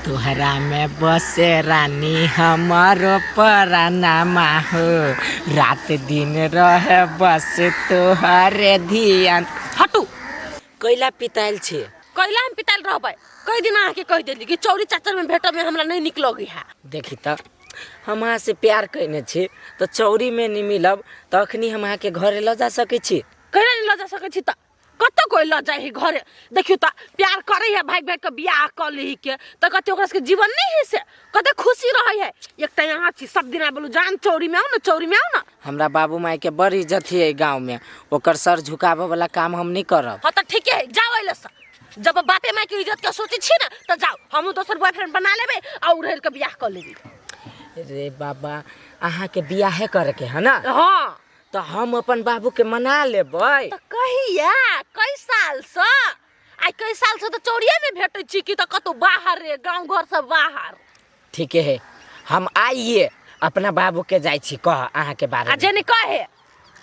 तोहरा में बसे रानी हमारो परानामा हो रात दिन रहे बस तोहरे ध्यान हटू कैला पिताल छे कैला हम पिताल रहबै कई दिन आके कह देली कि चौरी चाचर में भेटब में हमरा नहीं निकलोगी है देखी त हम अहाँ से प्यार कैने छी तो चौरी में नहीं मिलब तो अखनी हम अहाँ के घरे ल जा सके छी कैला नहीं लजा सके छी त कतऽ कोई लऽ जाइ है घरे देखियौ तऽ प्यार करै है भागि भागि कऽ बियाह कऽ लै के तऽ कहते ओकरा सबके जीवन नहि है से कते खुशी रहै है एक तऽ यहाँ छी सब दिन बोलू जान चौरी में आउ ने चौरी में आउ ने हमरा बाबू माय के बड़ इज्जत है एहि गाँव में ओकर सर झुकाबऽ वाला काम हम नहीं करब हाँ तऽ ठीके है जाओ अइले से जब बापे माय के इज्जत के सोचे छी ना तऽ जाओ हमहूँ दोसर बॉयफ्रेंड बना लेबै आ उड़हर के बियाह कऽ लेबै रे बाबा अहाँ के बियाहे करे के है ना हाँ तो हम अपन बाबू के मना लेबै तो कहिया कई साल से आई कई साल से तो चौड़िया में भेटे छी कि तो कतो बाहर रे गांव घर से बाहर ठीक है हम आइए अपना बाबू के जाय छी कह अहाँ के बारे आ में जेने कहे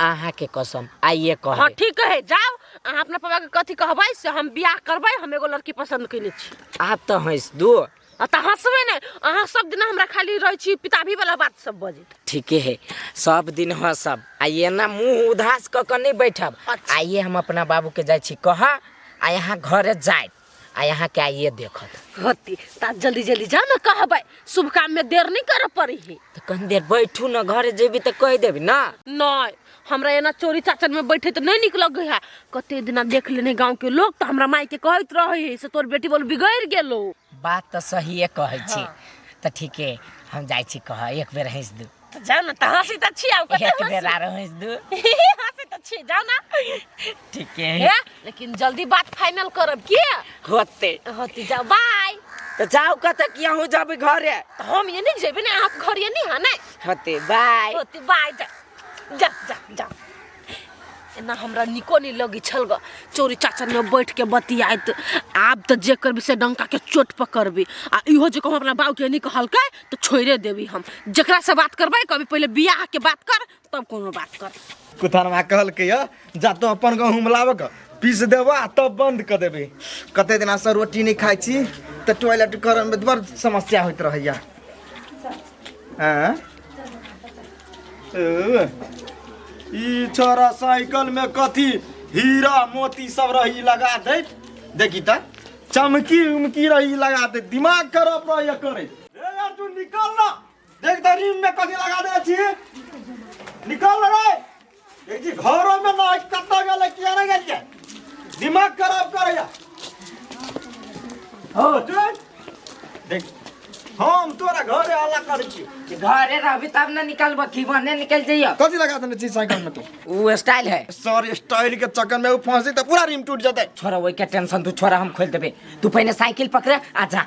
अहाँ के कसम आइए कह हाँ ठीक है जाओ अहाँ अपना पापा के कथी कहबै से हम बियाह करबै हम एगो लड़की पसंद कैले छी आप तो हंस दो आ तऽ हँसबे ने अहाँ सब दिन हमरा खाली रहै छी पिताभी वाला बात सब बजे ठीके है सब दिन हँसब आ ये ना मुँह उदास कऽ कऽ नहि बैठब अच्छा। आइए हम अपना बाबूके जाइ छी कहऽ आ यहाँ घरे जायब आ यहाँके आइए देखत होती ता जल्दी जल्दी जा ना कहबै शुभ काम में देर नहीं कर पड़ी है तऽ कनी देर बैठू ने घरे जेबी तऽ कहि देबी ना नहीं हमरा एना चोरी चाचन में बैठे तो नहीं निक लगे है कते दिना देख लेने गांव के लोग तो हमरा माई के कहत रहे है से तोर बेटी बोल बिगड़ गेलो बात तो सहिए कहै छी तऽ ठीके हम जाइ छी कहऽ एक बेर हँसि दू तो जाओ ना तो हंसी तो छी आओ कते एक हंसी बेर आरो हँसि दू हंसी तो छी जाओ ना ठीके है ए, लेकिन जल्दी बात फाइनल करब की होते होती जाओ बाय तऽ जाउ कतऽ कि अहूँ जेबै घरे तो हम ये नहीं जेबे ना आप घर ये नहीं है ना होते बाय होती बाय जा जा जा जा एना हमरा निको नहीं लगी छल ग चोरी चाचा में बैठ के बतियात आब तो जे करबी से डंका के चोट पकड़बी आ इहो जे कहूँ अपना बाबू के नहीं कहलकै तो छोड़े देबी हम जकरा से बात करबै कभी पहले बियाह के बात कर तब कोनो बात कर कुथानमा कहलकै यऽ जा तो अपन गहूँम लाबऽ के पीस देबऽ आ तब बंद कऽ देबै कते दिना से रोटी नहि खाइ छी तऽ टॉयलेट करऽ मे बड़ समस्या होइत रहैया आँय? ए, ई छोरा साइकिल में कथी हीरा मोती सब रही लगा दैत देखी तऽ चमकी उमकी रही लगा दैत दिमाग खराब रहैया करैत ए यार तू निकल ना देख तो रीम में कथी लगा दे छी निकल रे देख जी घरों में ना कत्ता गेले किया ना गेलिए दिमाग खराब करे या हो चल देख हम तोरा घरे आला कर छी कि घरे रहबी तब ना निकलबो कि बने निकल जइयो कथी लगा देने छी साइकिल में तू उ स्टाइल है सर स्टाइल के चक्कर में वो फंसी तो पूरा रीम टूट जाते छोरा ओई के टेंशन तू छोरा हम खोल देबे तू पहले साइकिल पकड़े आ जा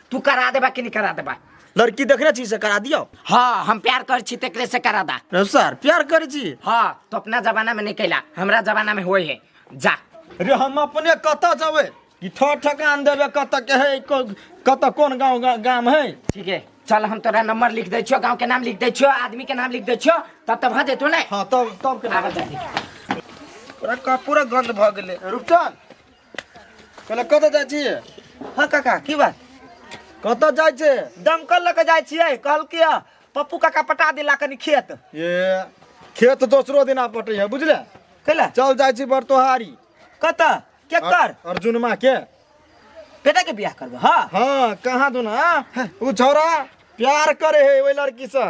तू करा देबा कि नहीं करा देबा लड़की देखने छी से करा दियो हाँ हम प्यार कर छी तेकरे से करा दा रे सर प्यार करे छी हाँ तो अपना जमाना में नहीं कैला हमरा जमाना में होए है जा रे हम अपने कत जावे कि ठो ठकान देवे कत के है को- कत कोन गांव गा- गाम है ठीक है चल हम तोरा नंबर लिख दे छियो गांव के नाम लिख दे छियो आदमी के नाम लिख दे छियो तब तब हाँ देतो ने हाँ तब तब के आबे जल्दी पूरा कपूरा गंध भ गेले रुपचन कहले कतऽ जाइ छी हाँ काका की बात कतऽ जाइ छै दमकल लऽ के जाइ छियै कहलकै हँ, पप्पू काका पटा दिला कनी खेत ये खेत दोसरो दिना पटै है बुझले कैला चल जाइ छी बरतोहारी कतऽ केकर अर्जुनमा के बेटा के बियाह करबो हाँ हाँ कहाँ दुना उ छौरा प्यार करे है ओइ लड़की से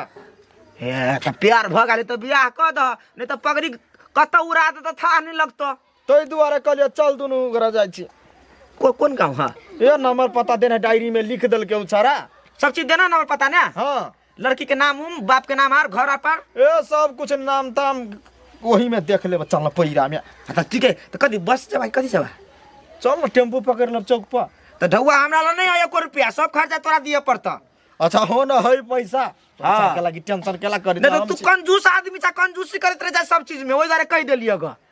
हे तऽ प्यार भऽ गेलै तऽ बियाह कऽ दह नहि तऽ पगड़ी कतऽ उड़ा देतऽ थाह नहि लगतऽ ताहि दुआरे कहलियै चल दुनू गोरा जाइ छी को, कोन गाँव है ए नंबर पता देना डायरी में लिख देलकै उ छौड़ा सब चीज देना ना पता ना हाँ लड़की के नाम उम बाप के नाम आर घर आर पर ए सब कुछ नाम ताम वही में देख लेब चल पैरा में अच्छा ठीक है तो कथी बस जब कथी जब चल न टेम्पू पकड़ लेब चौक पर तो ढौआ हमरा ला नहीं है एको रुपया सब खर्चा तोरा दिए पड़ता अच्छा हो न है पैसा हाँ। पैसा के लागी टेंशन केला करी नहीं तो तू कंजूस आदमी छा कंजूसी करत रह जा सब चीज में ओहि दुआरे कहि देलियै ग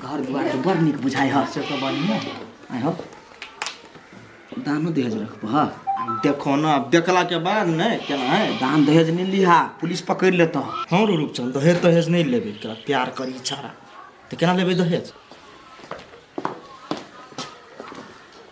घर दुआर तो बड़ निक बुझाई ह से तो बढ़िया आय हो दानो दहेज रखबो ह देखो ना अब देखला के बाद ने केना है दान दहेज नहीं लिहा पुलिस पकड़ लेता हाँ रो रूपचंद दहेज दहेज नहीं लेबे तोरा प्यार करी छाड़ा तो केना लेबे दहेज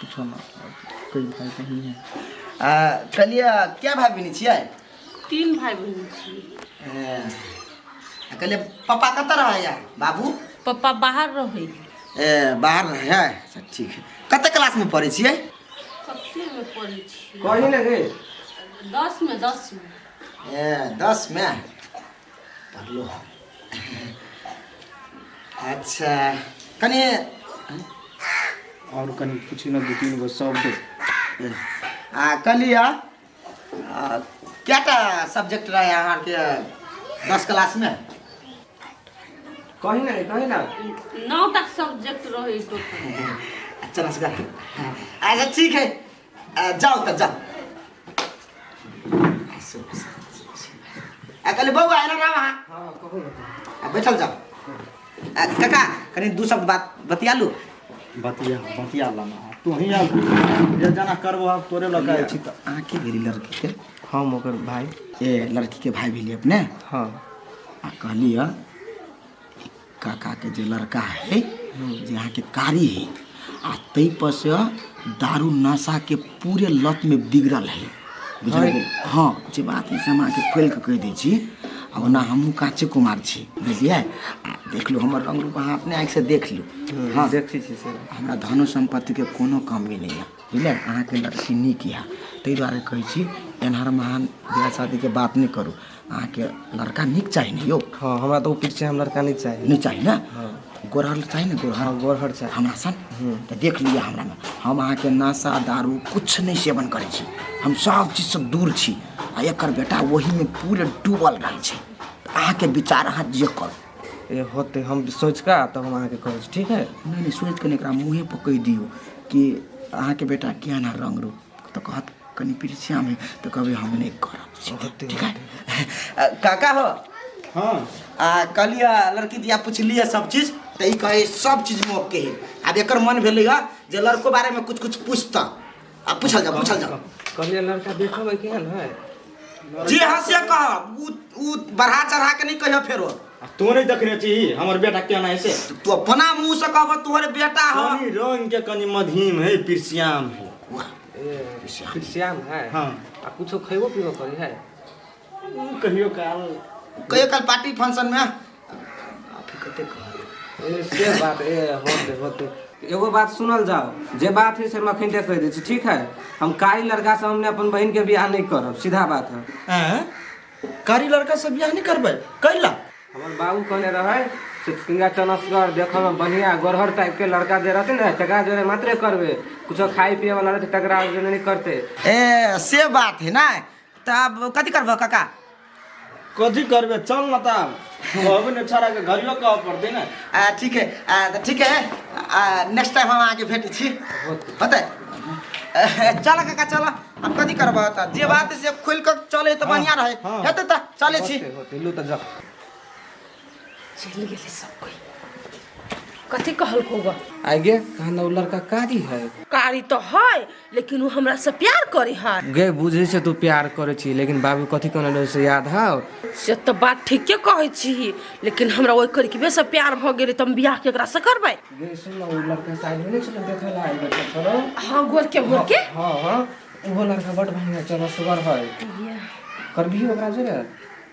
किछो ना कोई भाई बहन है आ कहलिए क्या भाई बहन छियै तीन भाई बहन छियै आ कहलिए पापा कत रहै है बाबू पापा बाहर रहै ए बाहर रहै है अच्छा ठीक है कत क्लास में पढ़ै छियै कते में पढ़ै छियै कहीं ना गए दस में दस में ए दस में पढ़लो अच्छा कने और कनी पूछी ना दू तीन गो शब्द आ कहलिया आ, कएटा सब्जेक्ट रहे अहाँके दस क्लास में कही ना कही ना नौ तक सब्जेक्ट रहे टोटल अच्छा नमस्कार अच्छा ठीक है आ, जाओ तो जाओ आ कहले बउआ आयल रहा वहाँ हाँ कहो ना आ, बैठल जाओ आ, काका कनी दू शब्द बात बतिया लू बतिया बतिया लाना तू ही आल जे जाना करबो हम तोरे लग आए छी त अहाँ के भेली लड़की के हम ओकर भाई ए लड़की के भाई भेली अपने हाँ आ कहली ह काका के जे लड़का है जे यहाँ के कारी है आ तई पर से दारू नशा के पूरे लत में बिगड़ल है बुझल गेल? हाँ जे बात है से हम अहाँके खोल के कह दै छी आ ओना हमहूँ काचे कुमार छी बुझलियै आ देख लू हमर रंग रूप अहाँ अपने आँखि से देख लू हाँ देखै छी सर हमरा धनो सम्पत्ति के कोनो कमी नहीं है बुझलियै अहाँके लड़की नीक यऽ ताहि दुआरे कहै छी एनहर महान बियाह शादी के बात नहि करू अहाँके लड़का नीक चाही ने यौ हँ हमरा तऽ ओ पीठ छै हम लड़का नहि चाही नहि चाही ने हँ गोरहर चाही ने गोरहर हँ गोरहर चाही हमरा सन तऽ देख लिअ हमरामे हम अहाँके नशा दारू किछु नहि सेवन करै छी हम सब चीजसँ दूर छी आ एकर बेटा ओहीमे पूरे डूबल रहै छै अहाँके विचार अहाँ जे करू ए होते हम सोचि कऽ तब हम अहाँके कहै छी ठीक है नहि नहि सोचि कऽ नहि एकरा मुँहे पर कहि दियौ कि अहाँके बेटा केहन रंग रूप तऽ कहत कनि पिरसियामे तऽ कहबै हम नहि करब सीधे, ठीक है? आ, काका हो हाँ आ कहलियै लड़की दिया पुछलियै सब चीज तऽ ई कहै सब चीज मोक के है आब एकर मन भेलै हँ जे लड़को बारेमे कुछ कुछ पूछता आ पूछल जाओ पूछल जाओ कहलियै लड़का देखब है केहन है जे हाँ से कहब उ उ बढ़ा चढ़ा के नहीं कहियो फेरो आ तू नहीं देखने छी हमर बेटा केना है से तू अपना मुंह से कहब तोहर बेटा ह कनी रंग के कनी मधीम है पिरसियाम है फिर श्याम है हाँ। आ कुछो खैबो पीबो करी है ऊ कहियो काल कहियो कल पार्टी फंक्शन में एगो बात सुनल जाओ जे बात है से हम अखन कह दै छी ठीक है हम कारी लड़का से हमने अपन बहन के बियाह नहीं करब सीधा बात है हैं? कारी लड़का से बियाह नहीं करबै कैला हमर बाबू कहने रहे से सिंगा चनसगर देखल में बढ़िया गोरहर टाइप के लड़का जे रहते ने तकरा जोरे मात्रे करबे कुछो खाए पिए वाला रहते तकरा जोरे नहीं करते ए से बात है ना तब कथी करबह काका कथी करबे चल ना ता कहबे ने छोरा के घरियो कह पड़ते ना आ ठीक है आ त ठीक है आ नेक्स्ट टाइम हम आके भेट छी होतै चल काका चल हम कथी करब त जे बात से खोल के चले त बढ़िया रहे हाँ। हेतै त चले छी होते होते लू त जा चलि गेलै सब कोई कथी कहलको बा आगे कहना उ लड़का कारी है कारी तो है लेकिन वो हमरा से प्यार करे है गे बुझे से तू प्यार करे छी लेकिन बाबू कथी कहना रहे से याद है से तो बात ठीके कहे छी लेकिन हमरा ओहि करके से प्यार भ गेलै तऽ हम बियाह केकरा से करबै गे सुन ना उ लड़का साइड में नहीं चलो देखे ला आइल बच्चा चलो हाँ गोर के गोर के हाँ हाँ वो लड़का बड़ बढ़िया चलो सुगर है ये करबी ओकरा जरे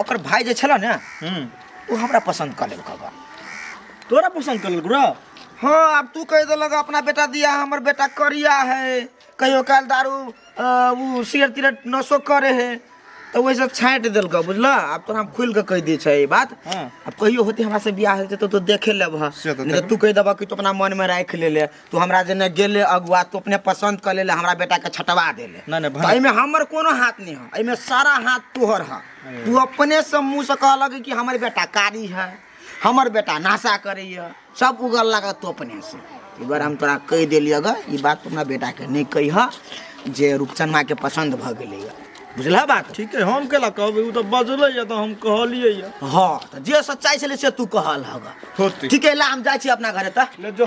ओकर भाई जे छला ने हम्म वो हमरा पसंद कर लेलक बा तोरा पसंद कर लेलक हाँ अब तू कह देलक अपना बेटा दिया हमर बेटा करिया है कहियो काल दारू अ, उ सिगरेट तिगरेट नशो करे है तो वैसे छाँट देलक बुझला अब तोरा हम खुल के कह दी छै ई बात हाँ। अब कहियो होते हमरा से बियाह होते तो तू देखे लेब ह। से तो नहीं तो तू कह देबा कि तू अपना मन में राख ले ले तू हमरा जेने गेले अगुआ तू अपने पसंद कर ले हमरा बेटा के छटवा दे ले ना, ना, भा- तो एमे हमर कोनो हाथ नहीं है एमे सारा हाथ तोहर है तू अपने से मुंह से कह लगे कि हमर बेटा कारी है हमर बेटा नाशा करे है सब उगल लगा तू अपने से एक बार हम तोरा कह देली अगर ई बात तू अपना बेटा के नहीं कही है जे रूपचन माँ के पसंद भ गेले है बुझला बात ठीक है हम केला कहबे उ तो बजले या तो हम कहलिए या हाँ तो जे सच्चाई से ले से तू कहल हगा होती ठीक है ला हम जाइ छी अपना घरे तक ले जो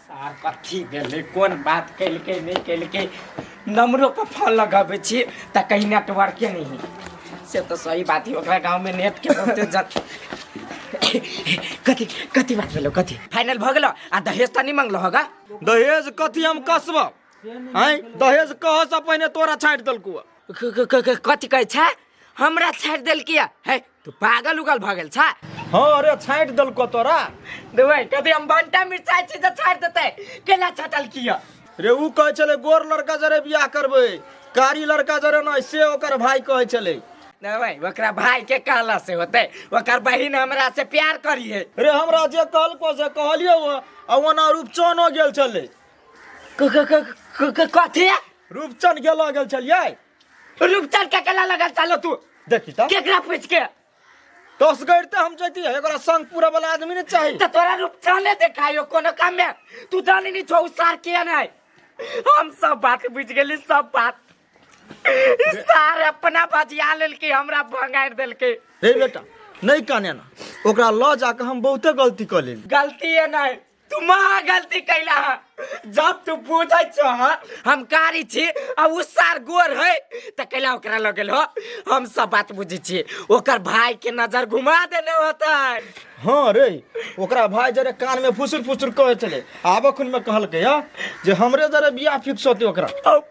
सार कथी भेलै कोन बात केलकै नहि केलकै नम्बरोपर फोन लगबै छी तऽ कहीं नेटवर्के नहि है से तऽ सही बात है ओकरा गाँवमे नेटके बहुते जन कथी कथी बात भेलौ कथी फाइनल भऽ गेलौ आ दहेज तऽ नहि मंगलौ होगा दहेज कथी हम कसब आँय दहेज कहसँ पहिने तोरा छाँटि देलकौ क- क- क- क- कथी कहै छै हमरा छाड़ि देलकै है तू पागल उगल भऽ गेल छै हाँ अरे छाँटि देलको तोरा देबै कभी हम भंटा मिरचाइ छी तऽ छाड़ि देतै केना छटल किया रे ऊ कहै छलै गोर लड़का जरे बियाह करबै कारी लड़का जरे नहि से ओकर भाय कहै छलै देबै ओकरा भाय के कहला से होतै ओकर बहिन हमरा से प्यार करी है रे हमरा जे कहलको से कहलियै ओ आ ओना रूपचनो गेल छलै कथी रूपचन गेलो गेल छलियै रुपचन के केला लगल चलो तू देखी त केकरा पूछ के दस गैर त हम जैती है एकरा संग पूरा वाला आदमी ने चाहिए त तोरा रुपचने देखायो कोनो काम में तू जानी नहीं छौ उ सार के नहीं हम सब बात बुझ गेली सब बात ई सार अपना बजिया लेलके हमरा भंगार देलके रे बेटा नहीं काने ना ओकरा ल जाके हम बहुते गलती कर लेली गलती है नहीं तू महा गलती कैला है जब तू बुझे छो हाँ, हम कारी छी आ उ सार गोर है त कैला ओकरा लग गेल हो हम सब बात बुझे छी ओकर भाई के नजर घुमा देने होता है हाँ रे ओकरा भाई जरे कान में फुसुर फुसुर कहे चले आबो खुन में कहलके या जे हमरे जरे बियाह फिक्स होते ओकरा अब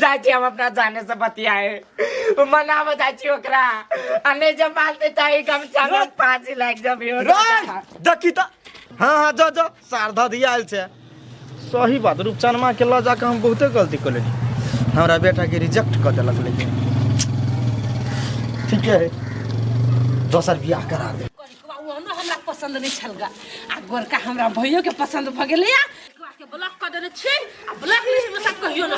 जाइ छी हम अपना जाने से बतियाए मनाबे जाइ छी ओकरा आ नहि जब मानते तऽ ई गमछा मे फांसी लागि जबी हो रे देखी त हाँ हाँ जो जो शारदा दिया आयल छै सही बात रूपचनमा के लऽ जाके हम बहुते गलती कर लेली हमरा बेटा के रिजेक्ट कर देलक लेकिन ठीके है दोसर बियाह करा दे ओनो हमरा पसंद नहीं छल गा आ गोरका हमरा भैयो के पसंद भ गेले या एकरा के ब्लॉक कर देने छी आ ब्लॉक लिस्ट में सब कहियो न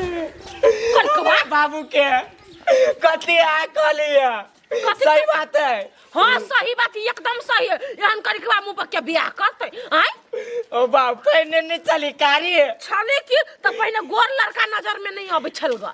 करकवा बाबू के कथी आ कहलिए कथी सही बात है हां सही बात एकदम सही है एहन करकवा मुंह पर के बियाह करते आय ओ बाप पहिने नहीं चली कारी छले की त पहिने गोर लड़का नजर में नहीं आबै छल गा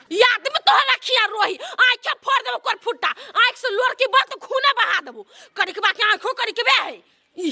याद में तो हला खिया रोही आंख फोड़ देबो कर फुट्टा आंख से लोर के बात खूने बहा देबो करिकबा के आंखो करिकबे है ई